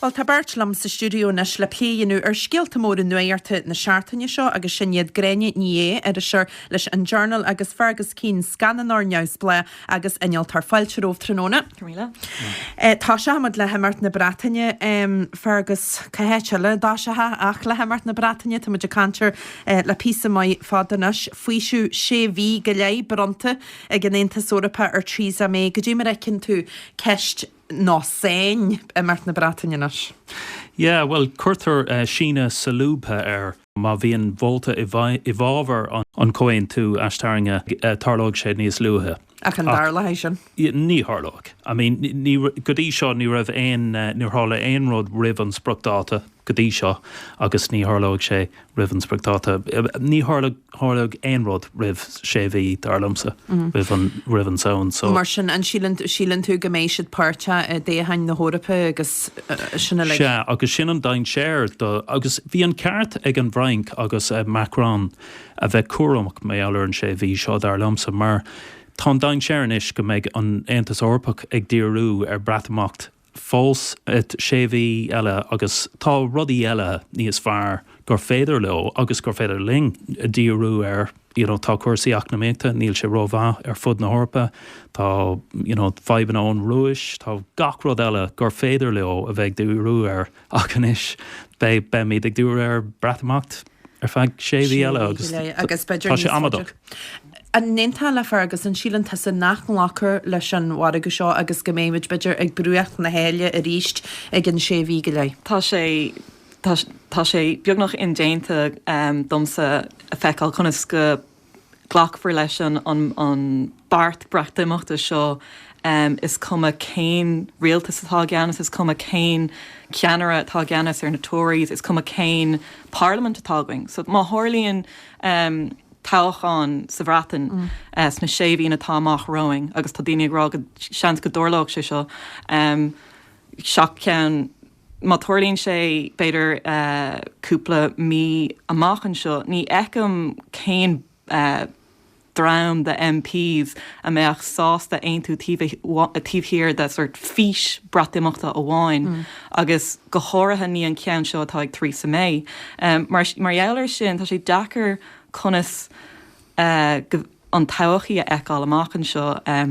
Bhuel, tá beirt liom sa stiúideo anois le plé a dhéanamh ar scéalta móra nuachta na seachtaine seo agus sin iad Gráinne Ní Aodha, iriseoir leis an Journal agus Fergus Keane, scannánóir neamhspleách agus innealtóir. Fáilte romhaibh tráthnóna. Tosóimid le himeacht na Breataine. Fergus, cá háit eile a dtosófá ach le himeacht na Breataine? Tá muid ag caint air le píosa maith fada anois, faoiseamh sé mhí go leith bronnta ag an Aontas Eorpach ar Theresa May cad é mar a fheiceann tú ceist nó sáinn imeacht na Breataine anois? Yeah, bhuel, cuireadh síneadh solúbtha air. Má bhíonn vóta i bhfabhar an chomhaontú aistarrainge, tarlóidh sé níos luaithe. Ach an dtarlóidh sin? Ní tharlóidh. I mean, go dtí seo ní raibh aon, níor tharla aon rud roimh an spriocdháta. go dtí seo agus ní tharlóidh sé roimh an spriocdháta. Ní tharlóidh aon rud roimh sé mhí, dar liomsa, roimh an tSamhain seo. Mar sin, an síleann tú go mbeidh siad páirteach i dtoghcháin na hEorpa agus sin uilig? Sea, agus sin an dainséar. Agus bhí an ceart ag an bhFrainc agus Macron a bheith cúramach mar gheall ar an sé mhí seo, dar liomsa, mar tá an dainséar anois go mbeidh an tAontas Eorpach ag díriú ar Breatimeacht fós ar sé mhí eile agus tá rudaí eile níos fearr gur féidir leo agus gur féidir linn díriú air you know tá cúrsaí eacnamaíochta níl sé rómhaith ar fud na hEorpa tá you know fadhbanna ón Rúis tá gach rud eile gur féidir leo a bheith ag díriú air ach anois beidh beimid ag díriú ar Breatimeacht. ar feadh sé mhí eile agus tá sé amaideach. An n-aontófá le Fergus, an síleann tusa nach nglacfar leis an mhargadh seo agus go mbeimid, b'fhéidir, ag bruach na haille arís i gceann sé mhí go leith? Tá sé, tá sé, tá sé beagnach indéanta domsa a feiceáil conas go. Glacfar leis an beart Breatimeachta seo is cuma cén rialtas atá i gceannas, is cuma cén ceannaire atá i gceannas ar na Tories, is cuma cén parlaimint atá againn. So má tharlaíonn toghchán sa Bhreatain sna sé mhí atá amach romhainn, agus tá daoine ag rá go seans go dtarlóidh sé seo, seans ceann, Má tharlaíonn sé, b'fhéidir, cúpla mí amach anseo, ní fheicim cén dream de MPs a bheadh sásta aontú taobh thiar de sórt fís Breatimeachta amháin, agus go háirithe ní an ceann seo atá ag Theresa May. Mar gheall air sin, tá sé deacair conas gu an todhchaí a fheiceáil amach anseo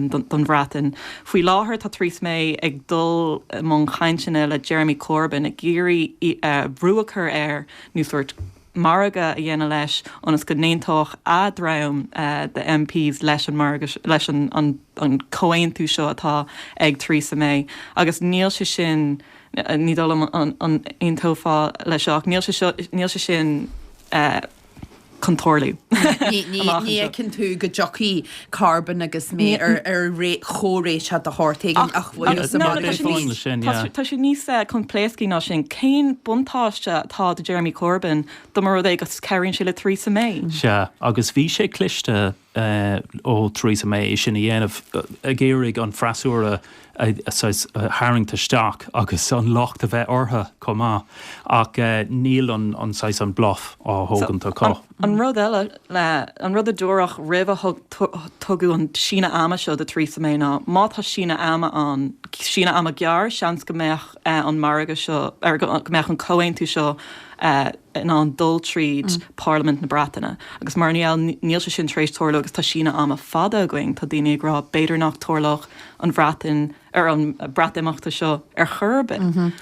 don Bhreatain. Faoi láthair tá Theresa May ag dul i mbun cainteanna le Jeremy Corbyn ag iarraidh brú a chur air, nó sórt margadh a dhéanamh leis, ionas go n-aontódh a dhream de MPs leis an margadh, leis an chomhaontú seo atá ag Theresa May. Agus níl sé sin, ní dóigh liom an aontófá leis seo, ach níl sé seo, níl sé sin eh, chun tarlú. Ní fheiceann tú go dtiocfaidh Corbyn agus May ar chomhréiteach de shórt éigin ach bhuel, tá muid ar fán leis sin. Tá sé níos coimpléascaí ná sin. Cén buntáiste atá do Jeremy Corbyn dá mba rud é go cabhraíonn sé le Theresa May? Sea, agus bhí sé cliste ó Theresa May é sin a dhéanamh, ag iarraidh an freasúra a tharraingt isteach agus an locht a bheith orthu chomh maith, ach níl an bluff á thógaint acu. An rud eile, an rud a dúradh roimh a tugadh an síneadh ama seo do Theresa May ná má tá síneadh ama ann, síneadh ama gearr, seans go mbeadh, an margadh seo, or go mbeadh an comhaontú seo in ann dul tríd Parlaimint na Breataine. Agus mar gheall, níl sé sin tar éis tarlú agus tá síneadh ama fada againn, tá daoine ag rá, b'fhéidir nach dtarlódh an Bhreatain, or an Breatimeachta seo ar chor ar bith.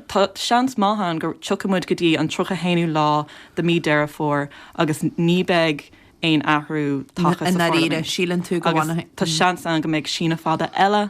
Tá seans maith ann go tiocfaidh muid go dtí an tríocha haonú lá de mí Deireadh Fómhair agus ní beidh aon athrú tagtha sa Pharlaimint. I ndáiríre, síleann tú go bhfanfaidh? Agus tá seans ann go mbeidh síneadh fada eile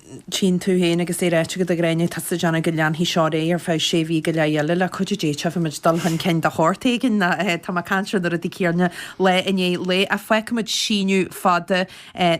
tíonn tú féin agus é ráite agat a Ghráinne, tá tú ag déanamh go leanfaidh seo air ar feadh sé mhí go leith eile le cuidiú Dé tífidh muid dul chun cinn de shórt éigin tá mé ag caint ar na rudaí céanna lá i ndiaidh lae ach fágfaimid síneadh fada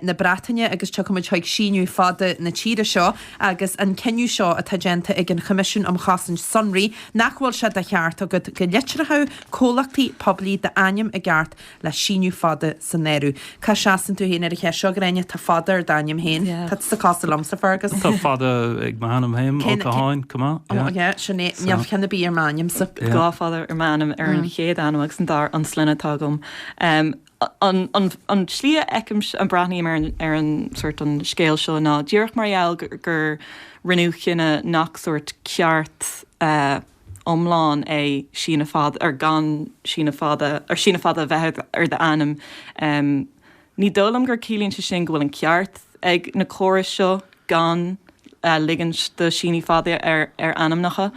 na Breataine agus tiocfaimid chuig síneadh fada na tíre seo agus an cinneadh seo atá déanta ag an Choimisiún um Chosaint Sonraí nach bhfuil sé de cheart agat go litreochadh comhlachtaí poiblí d'ainm i gceart le síneadh fada san áireamh. Cá seasann tú féin ar an cheist seo, Gráinne? Tá fada ar d'ainm féin. Tá tú sa chás liomsa, Fergus. Tá fada ag m'ainm féin, Ó Catháin, come on, yeah. Ó, yeah, sin é. Níl ceann ar bith ar m'ainm, so. Dhá fada ar m'ainm, ar an chéad ainm agus an dara, an sloinne atá agam. An tslí a fheicim, a mbreathnaím ar an, ar an sórt, an scéal seo ná díreach mar gheall gur rinneadh cinneadh nach sórt ceart, iomlán é síneadh fada, or gan síneadh fada, or síneadh fada a bheith ar d'ainm. Ní dóigh liom gur ciallaíonn sé sin go bhfuil an ceart ag na córais seo gan ligint do síneadh fada ar ainmneacha.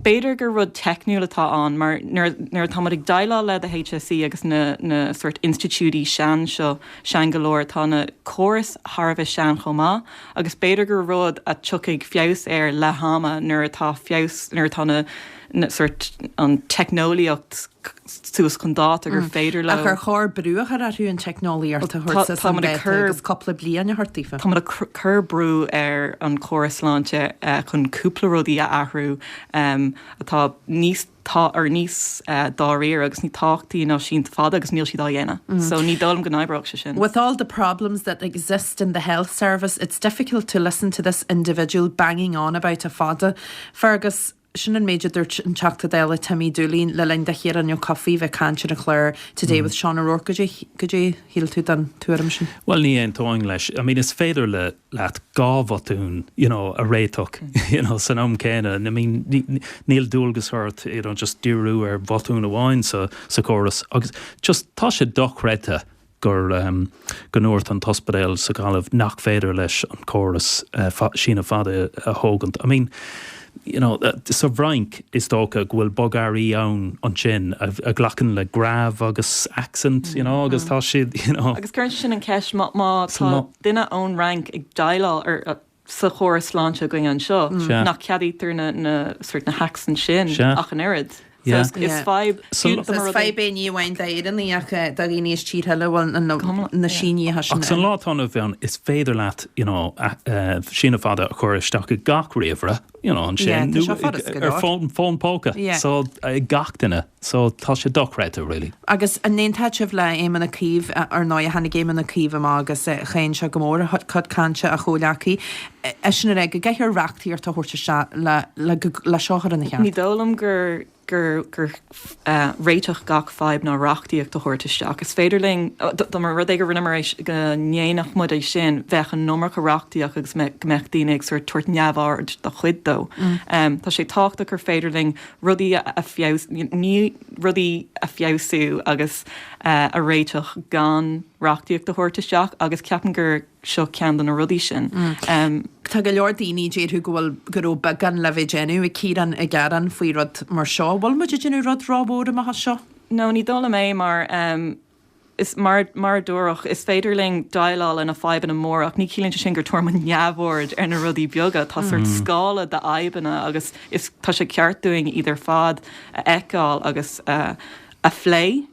B'fhéidir gur rud teicniúil atá ann mar nuair atá muid ag déileáil le the HSE agus na sórt institiúidí sean seo, sean go leor, tá na córais thar a bheith sean chomh maith. agus b'fhéidir gur rud a dtiocfaidh feabhas air le hama nuair atá feabhas, nuair atá na, na, sórt, an teicneolaíocht suas chun dáta gur féidir leo. Ach ar chóir brú a chur orthu an teicneolaíocht a thabhairt suas chun dáta agus cúpla bliain a thabhairt daofa? Táimid ag cur brú ar an chóras sláinte chun cúpla rudaí a athrú atá níos, tá oiread níos dáiríre agus níos tábhachtaí ná síneadh fada agus níl siad á dhéanamh so ní dóigh liom go n-oibreoidh sé sin. With all the problems that exist in the health service it's difficult to listen to this individual banging on about a fada, Fergus, Sin an méid a dúirt an Teachta Dála Timmy Dooley le linn do Chiarán Ó Cofaigh bheith ag caint ar an chlár Today with Seán O'Rourke goidé shíl tú den tuairim sin? Bhuel, ní aontóinn leis. I mean, is féidir leat dhá bhotún, you know, a réiteach, you know, san am céanna. I mean, níl dualgas ort, you know, just díriú ar bhotún amháin sa chóras. Agus just, tá sé dochreidte gur, em, go ndúirt an t-ospidéal sa Ghaillimh nach féidir leis an chóras, eh, síneadh fada a thógaint. I mean. you know, sa bhFrainc, is dócha go bhfuil bogearraí ann ansin a ghlacann le grave agus accent, you know, agus tá siad, you know. Agus cuireann sin an cheist, má tá duine ón Fhrainc ag déileáil ar, sa chóras sláinte againn anseo, nach ceadaítear na, na, sórt, na haccents sin ach an oiread? Is fadhb é ní amháin d'Éireannaigh ach do dhaoine as tíortha eile a bhfuil na sínithe sin ann. Ach sa lá atá inniu ann is féidir leat síneadh fada a chur isteach i gach ríomhaire ansin, nó ar fón póca ag gach duine, so tá sé dochreidte really. Agus an n-aontófá le Éamon Ó Cuív, ar ndóigh tháinig Éamon Ó Cuív amach agus cháin sé go mór cuid cainte a chomhghleacaí, eisean ag rá go gcaithfear reachtaíocht a thabhairt isteach le le seo a chur ina cheart. Ní dóigh liom gur gur gur réiteach gach fadhb ná reachtaíocht a thabhairt isteach. Is féidir linn dá mba rud é go rinneamar é go ndéanfadh muid é sin, bheadh an iomarca reachtaíocht agus go mbeadh daoine ag sórt tabhairt neamhaird do chuid dó. Tá sé tábhachtach gur féidir linn rudaí a, rudaí a fheabhsú agus a réiteach gan reachtaíocht a thabhairt isteach agus ceapaim gur. seo ceann de na rudaí sin. Tá go leor daoine a déarfadh go bhfuil, go raibh beagán le bheith déanamh ag Ciarán, ag gearán faoi rud mar seo. Bhfuil muid ag déanamh rud ró mhór amach as seo? No, ní dóigh liom é mar is mar, mar a dúradh, is féidir linn déileáil le na fadhbanna móra ach ní chiallaíonn sé sin go dtabharfaidh muid neamhaird ar na rudaí beaga. Tá sórt scála de fhadhbanna agus is, tá sé ceart dúinn iad ar fad a fheiceáil agus a phlé.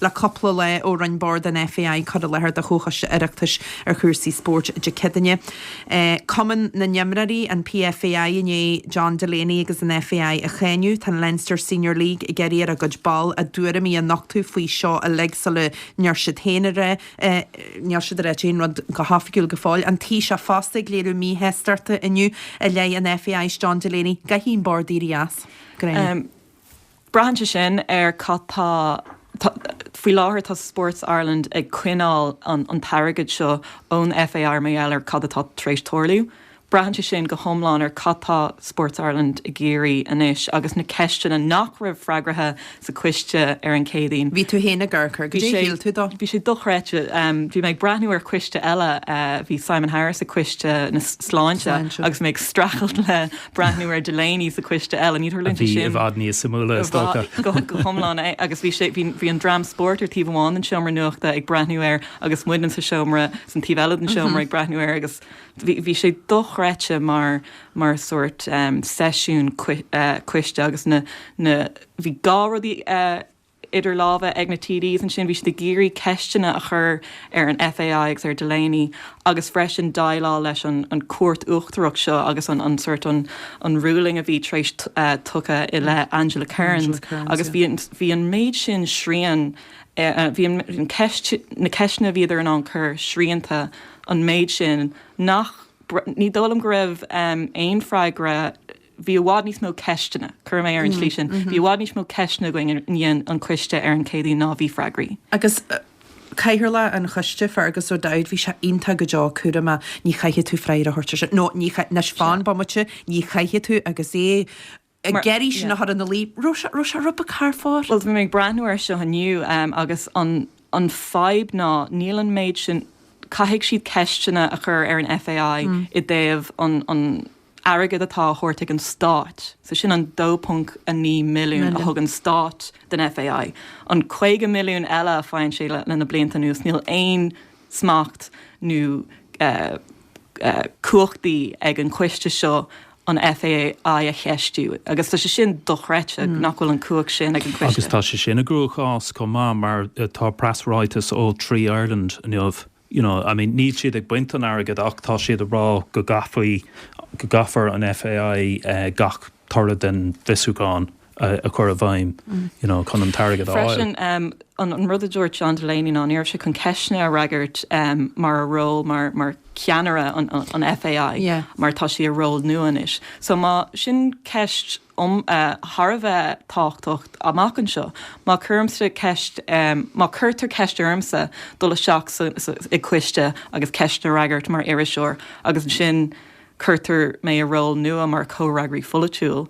Le cupla lá ó rinne Bord an FAI cur i láthair do Chomhchoiste Oireachtais ar chúrsaí spóirt Dé Céadaoin. Cumann na nImreoirí, an PFAI, i ndiaidh John Delaney agus an FAI a cháineadh. Tá an Leinster Senior League ag iarraidh ar a gcuid ball a dtuairimí a nochtadh faoi seo uilig sula ndeir siad féin aon rud. Níl siad ag rá aon rud go hoifigiúil go fóill. An Taoiseach fosta ag léiriú míshástachta inniu i leith an FAI 's John Delaney. Caithfidh an Bord éirí as. Go Braitheann sé sin ar cad tá, faoi láthair tá Sports Ireland ag coinneáil an t-airgead seo ón FAI mar gheall ar cad atá tar éis tarlú. Braitheann sé sin go hiomlán ar cad tá Sports Ireland ag iarraidh anois agus na ceisteanna nach raibh freagraithe sa coiste ar an Chéadaoin. Bhí tú féin ag amharc air, cad é a shíl tú de? Bhí sé dochreidte. Bhí mé ag breathnú ar coiste eile, bhí Simon Harris ag coiste na sláinte agus mé ag streachailt le breathnú ar Delaney sa coiste eile, ní tharlaíonn sé sin. Bhí i bhfad níos suimiúla, is dócha. Go hiomlán agus bhí sé, bhí an dream spóirt ar taobh amháin den seomra nuachta ag breathnú air agus muidne sa seomra, san taobh eile den seomra ag breathnú air agus bhí, bhí sé dochreidte mar, mar sórt seisiún coiste agus na, na, bhí dhá rudaí idir lámha ag na TDs ansin, bhí siad ag iarraidh ceisteanna a chur ar an FAI agus ar Delaney agus freisin déileáil leis an Cúirt Uachtarach seo agus an sort an ruling a bhí tar éis tugtha i leith Angela Kerins agus bhí an méid sin srian, bhí na ceisteanna a bhíodar in ann cur srianta an méid sin nach, ní dóigh liom go raibh aon freagra, bhí i bhfad níos mó ceisteanna, cuirfidh mé ar an tslí sin, bhí i bhfad níos mó ceisteanna againn i ndiaidh an coiste ar an Céadaoin ná a bhí freagraí. Agus cathaoirleach an choiste, Fergus O'Dowd, bhí sé iontach go deo cúramach, ní chaithfidh tú freagra a thabhairt ar sin, no, ní chaith, anois fan bomaite, ní chaithfidh tú agus é ag iarraidh sin a chur ina luí, raibh sé, raibh sé rud beag thar fóir. Bhuel, bhí mé ag breathnú air seo inniu agus an, an fadhb ná níl an méid sin, caithfidh siad ceisteanna a chur ar an FAI i dtaobh an, an, airgead atá á thabhairt ag an Stát, so sin an 2.9 milliún a thug an Stát don FAI. An 50 milliún eile a fhaigheann sé le na blianta anuas, níl aon smacht nó cumhachtaí ag an coiste seo an FAI a cheistiú agus tá sé sin dochreidte nach bhfuil an cumhacht sin ag an choiste. Agus tá siadsan i gcruachás chomh maith mar tá preasráiteas ó Three Ireland inniu you know, I mean, níl siad ag baint an airgid ach tá siad ag rá go gcaithfí, go gcaithfear an FAI gach toradh den bhfiosrúchán a chur i bhfeidhm, you know, chun an t-airgead a fháil. Freisin, an rud a dúirt John Delaney ná ní raibh sé chun ceisteanna a fhreagairt mar a ról mar, mar cheannaire an FAI mar tá sé i ról nua anois. So má, sin ceist, thar a bheith tábhachtach amach anseo. Má cuirimse ceist, má cuirtear ceist ormsa dul isteach i gcoiste agus ceisteanna a fhreagairt mar iriseoir agus ansin cuirtear mé i ról nua mar chomhfhreagraí polaitiúil,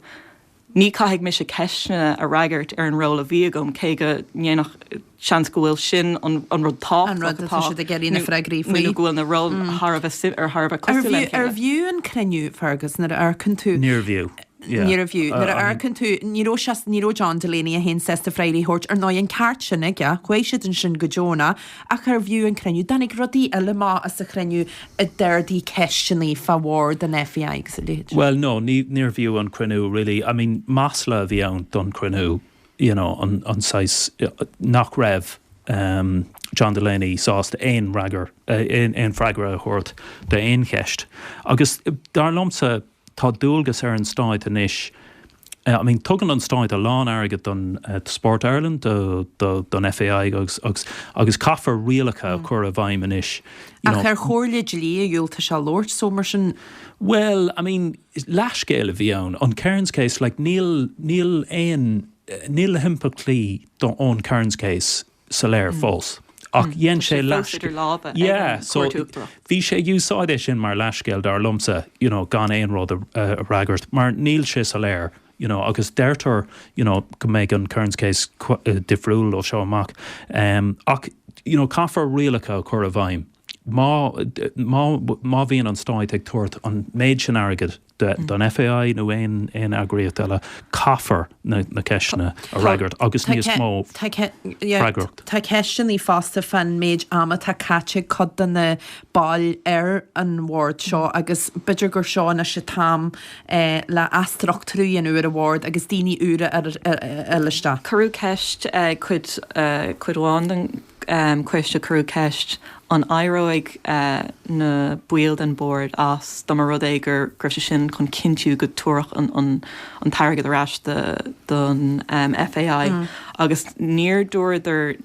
ní, caithfidh mise ceisteanna a fhreagairt ar an ról a bhí agam cé go ndéanfadh, seans go bhfuil sin an rud tábhachtach atá nó go bhfuil na róil thar a bheith ar thar a bheith cosúil le chéile. Arbh fhiú an cruinniú, Fergus, nuair a amharcann tú. Níorbh fhiú. Níorbh fhiú. Nuair a amharcann tú, ní raibh sé, ní raibh John Delaney a haon sásta freagraí a thabhairt, ar ndóigh, an ceart sin aige, chuaigh siad ansin go deonach, ach arbh fhiú an cruinniú. Tháinig rudaí eile amach as an chruinniú a d'ardaigh ceisteannaí fá bharr den FAI agus a leithéid. Bhuel, no, ní, níorbh fhiú an cruinniú really, I mean, masla a bhí ann don chruinniú. you know an an saghas nach raibh John Delaney sásta aon fhreagair aon aon freagra a thabhairt d'aon cheist agus dar liomsa tá dualgas ar an stát anois I mean tugann an stát a lán airgead don Sport Ireland do do don FAI agus agus agus caithfear rialacha a chur i bhfeidhm anois Ach ar chomhairle dlí a dhiúltaigh sé labhairt so mar sin Bhuel I mean is leathscéal a bhí ann, an Kerins Case, like níl, níl aon, níl na himpleachtaí ón Kerins Case soiléir fós ach dhein sé leathscéal. Tá sé fós idir lámha ag an Chúirt Uachtarach. Bhí sé ag úsáid é sin mar leathscéal, dar liomsa, you know gan aon rud a fhreagairt mar níl sé soiléir, you know agus deirtear, you know go mbeidh an Kerins Case difriúil ó seo amach ach, you know caithfear rialacha a chur i bhfeidhm. Má, má, má bhíonn an Stát ag tabhairt an méid sin airgid don FAI nó aon, aon eagraíocht eile, caithfear na, na ceisteanna a fhreagairt agus níos mó freagracht. Tá ceisteannaí fosta fán méid ama atá caite ag cuid de na baill ar an bhord seo agus b'fhéidir gur seo anois an t-am eh, le athstruchtúrú a dhéanamh ar an bhord agus daoine úra a ligint isteach. Cuireadh ceist ag cuid, eh, cuid amháin den coiste cuireadh ceist an éireoidh na baill den Bhord as dá mba rud é gur raibh sé sin chun cinntiú go dtabharfadh an t-airgead ar ais don FAI agus níor dúradar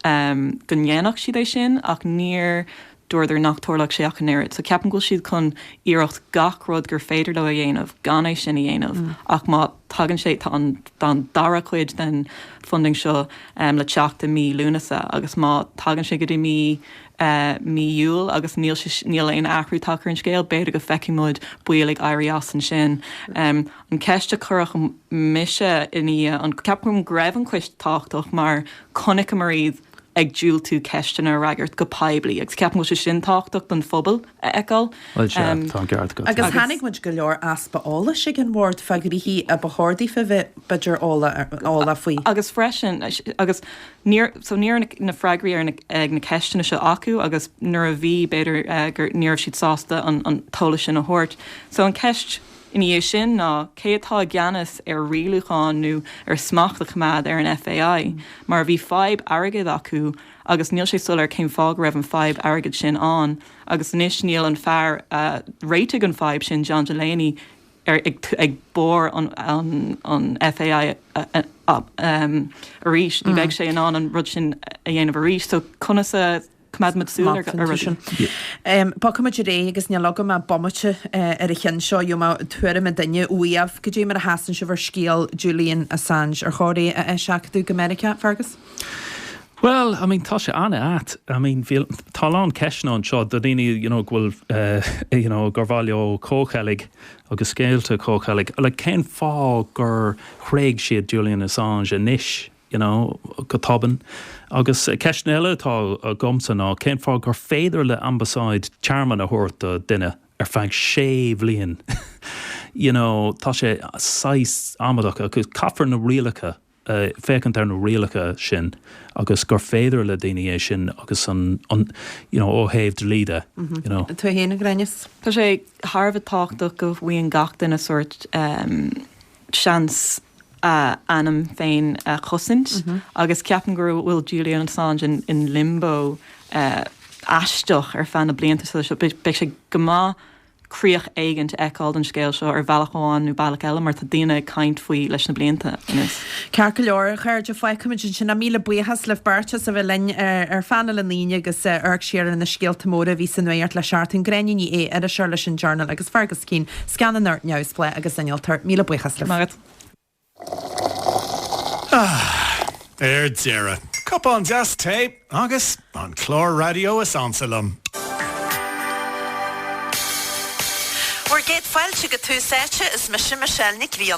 go ndéanfadh siad é sin ach níor dúradar nach dtarlódh sé ach an oiread. So ceapaim go bhfuil siad chun iarracht gach rud gur féidir leo a dhéanamh gan é sin a dhéanamh ach má thagann sé, tá an tá an dara chuid den funding seo le teacht i mí Lúnasa agus má thagann sé go dtí mí mí Iúil agus níl sé níl aon athrú tagtha ar an scéal, b'fhéidir go bhfeicfidh muid baill ag éirí as ansin. An cheist a chuirfeadh mise i ndiaidh an ceapaim go raibh an Coiste tábhachtach mar chonaiceamar iad, ag diúltú ceisteanna a fhreagairt go poiblí agus ceapann go bhfuil sé sin tábhachtach don phobal a fheiceáil. Bhuel, sea, tá an ceart agat. Agus chonaic muid go leor easpa eolais ag an Bhord fá gnoithí a ba chóir daofa a bheith, b'fhéidir, eolach faoi. Agus freisin, agus níor, so ní raibh na freagraí ar na, ag na ceisteanna seo acu agus nuair a bhí, b'fhéidir gur, ní raibh siad sásta an t-eolas sin a thabhairt. So an ceist. ina dhiaidh sin ná cé atá i gceannas ar rialúchán nó ar smacht a choimeád ar an FAI, mar bhí fadhb airgid acu agus níl sé soiléir cén fáth go raibh an fadhb airgid sin ann agus anois níl an fear a réitigh an fadhb sin, John Delaney, ar ag barr an FAI arís, ní bheidh sé in ann an rud sin a dhéanamh arís so conas a. coimeádfaimid súil air sin. Bogfaidh muid ar aghaidh agus níl agam ach bomaite ar an cheann seo. Gheobhaidh mé tuairim an duine uaibh. Cad é mar a sheasann sibh ar scéal Julian Assange? Ar chóir é a eiseachadadh go Meiriceá, Fergus? Bhuel, I mean, tá sé an-ait. I mean, bhí, tá a lán ceisteanna anseo do daoine, you know, go bhfuil, you know, gur mhaith leo comhcheilg agus scéalta comhcheilg. Like, cén fáth gur thréig siad Julian Assange anois? you know, go tobann. Agus ceisteanna eile atá agamsa ná, cén fáth gur féidir le ambasáid tearmann a thabhairt do duine ar feadh sé bhliain? You know, tá sé saghas amadach agus caithfear na rialacha, féachaint ar na rialacha sin agus gur féidir le daoine é sin agus an, you know, ó thaobh dlí de, you know. Tú fhéin a Ghráinne? Tá sé thar a bheith tábhachtach go bhfaigheann gach duine sórt, seans a ainm féin a chosaint agus ceapaim go bhfuil Julian Assange in limbo aisteach ar feadh na blianta sula seo. Beidh sé go maith críoch éigint a fheiceáil don scéal seo ar bhealach amháin nó bealach eile mar tá daoine ag caint faoi leis na blianta anuas. Ceart go leor, a chairde, fágfaimid ansin é ach míle buíochas libh beirt as a bheith linn ar Phainéal na hAoine ag amharc siar ar na scéalta móra a bhí sa nuacht le seachtain, Gráinne Ní Aodha, iriseoir leis an Journal agus Fergus Keane, scannánóir neamhspleách agus innealtóir, míle buíochas, maith agat. Ah! Ar deireadh! Cupán deas tae agus an clár raidió is ansa liom. Bhur gcéad fáilte go Tús Áite, is mise Michelle Nic Grianna.